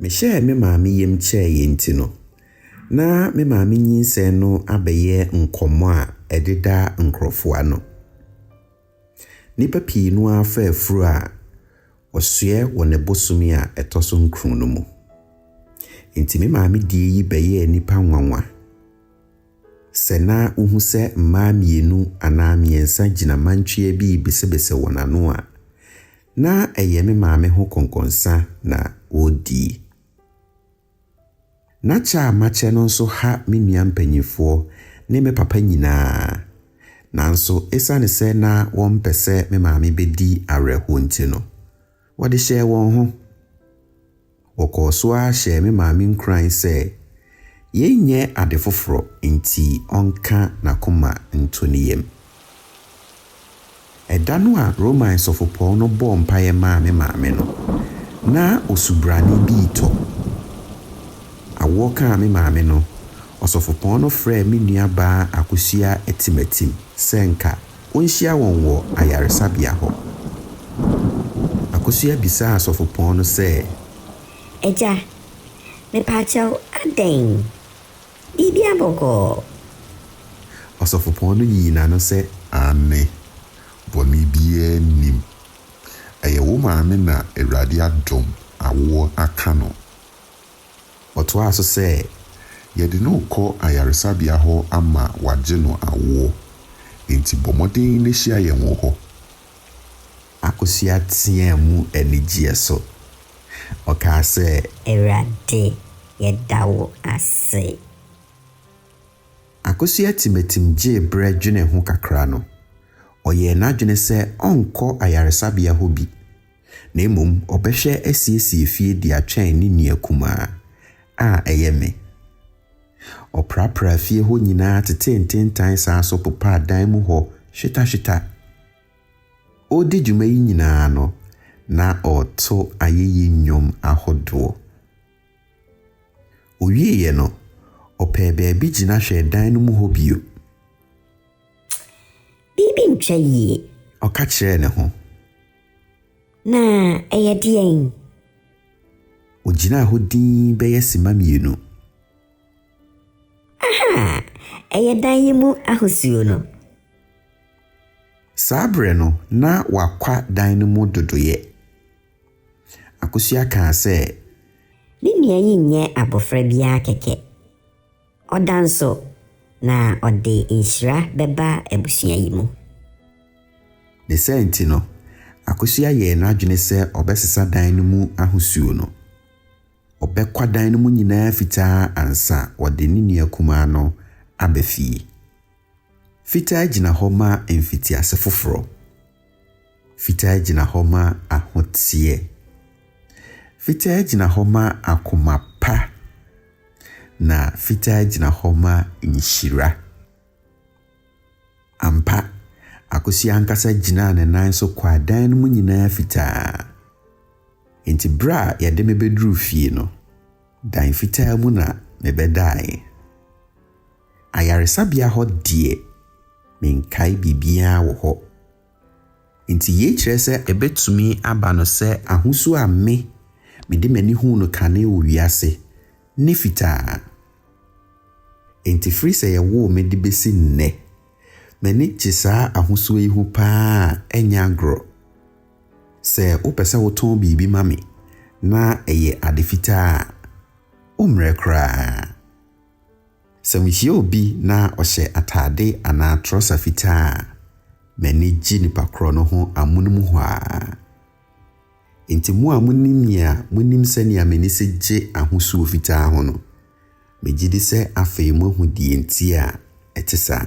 Mehyɛɛ me maame yam kyɛɛ yɛn nti no, na me maame nyinsɛn no abɛyɛ nkɔmmɔ a ɛdeda nkurɔfo ano. Nnipa pii no ara fa afuru a wɔsoɛ wɔ ne bosome a ɛtɔ so nkron no mu. Enti me maame die yi bɛyɛɛ nnipa nwanwa sɛ na wohu sɛ mmaa mmienu anaa mmiɛnsa gyina mantwea bi rebesebese wɔn ano a, Ná ɛyɛ me maame ho kɔnkɔnsa na ɔredi. Ná kyɛ a makyɛ no nso ha me nua mpanimfoɔ ne me papa nyinaa. Nanso ɛsiane sɛ na wɔmpɛ sɛ me maame bɛdi awerɛhoɔ nti no, wɔde hyɛɛ wɔn ho. Wɔkɔɔ so ara hyɛɛ me maame nkuran sɛ yɛnyɛ ade foforɔ nti ɔnka n'akoma nto ne yam. Ɛda no a Roman sɔfopɔn no bɔɔ mpaeɛ maa me maame no, na osubrane bi retɔ. Awoɔ kaa me maame no, ɔsɔfopɔn no frɛɛ me nuabaa Akosua Atimatim sɛ nka Wonhyia wɔn wɔ ayaresabea hɔ. Akosua bisaa asɔfopɔn no sɛ. Agya, mepaakyɛw, adɛn? Biribia bɔkɔɔ? Ɔsɔfopɔn no yii n'ano sɛ, Aane, bɔne biaa nnim. Ɛyɛ wo maame na Awurade adom awoɔ aka no. Ɔtoaa so sɛ, Yɛde no rekɔ ayaresabea hɔ ama wɔagye no awoɔ, enti bɔ mmɔden na hyia yɛn wɔ hɔ. Akosua teaa mu anigyeɛ so. Ɔkaa sɛ. Awurade, yɛda wo ase. Akosua timatim gyee berɛ dwenee ho kakra no, ɔyɛɛ n'adwene sɛ ɔrenkɔ ayaresabea hɔ bi Na mmom ɔbɛhwɛ asiesie fie de atwɛn ne nua kumaa, a ɛyɛ me. Ɔprapraa fie hɔ nyinaa tetee ntentan saa nso popaa dan mu hɔ hwetahweta. Ɔredi dwuma yi nyinaa no, na ɔreto ayeyi nnwom ahodoɔ. Ɔwieeɛ no, ɔpɛɛ baabi gyina hwɛɛ dan no mu hɔ bio. Biribi ntwa yie. Ɔka kyerɛɛ ne ho. Na ɛyɛ deɛn? Ɔgyinaa hɔ dinn bɛyɛ simma mmienu. Aha! Ɛyɛ dan yi mu ahosuo no. Saa berɛ no, na wɔakwa dan no mu dodoeɛ. Akosua kaa sɛ. Ne nua yi nyɛ abɔfra biara kɛkɛ. Ɔda nso, na ɔde nhyira bɛba abusua yi mu. Ne saa nti no, Akosua yɛɛ n'adwene sɛ ɔbɛsesa dan no mu ahosuo no. Ɔbɛkwa dan no mu nyinaa fitaa ansa wɔde ne nua kumaa no aba fie. Fitaa gyina hɔ ma mfitiase foforɔ. Fitaa gyina hɔ ma ahoteɛ. Fitaa gyina hɔ ma akoma pa. Na fitaa gyina hɔ ma nhyira. Ampa, Akosua ankasa gyinaa ne nan so kɔ adan no mu nyinaa fitaa. Enti berɛ a yɛde me bɛduruu fie no, dan fitaa mu na mebɛdaeɛ. Ayaresabea hɔ deɛ, menkae biribiara wɔ hɔ. Enti yei kyerɛ sɛ ɛbɛtumi aba no sɛ ahosuo a me, mede m'ani huu no kane wɔ wiase ne fitaa. Enti firi sɛ yɛwoo me de bɛsi nnɛ, m'ani gye saa ahosuo yi ho pa ara a ɛnyɛ agorɔ. Sɛ wopɛ sɛ wotɔn biribi ma me na ɛyɛ ade fitaa a, wommrɛ koraa. Sɛ mihyia obi na ɔhyɛ atade anaa trɔsa fitaa a, m'ani gye nipa korɔ no ho amonom hɔ ara. Enti mo a monim me a monim sɛnea m'ani si gye ahosuo fitaa ho no, megye di sɛ afei moahu deɛ enti a ɛte saa.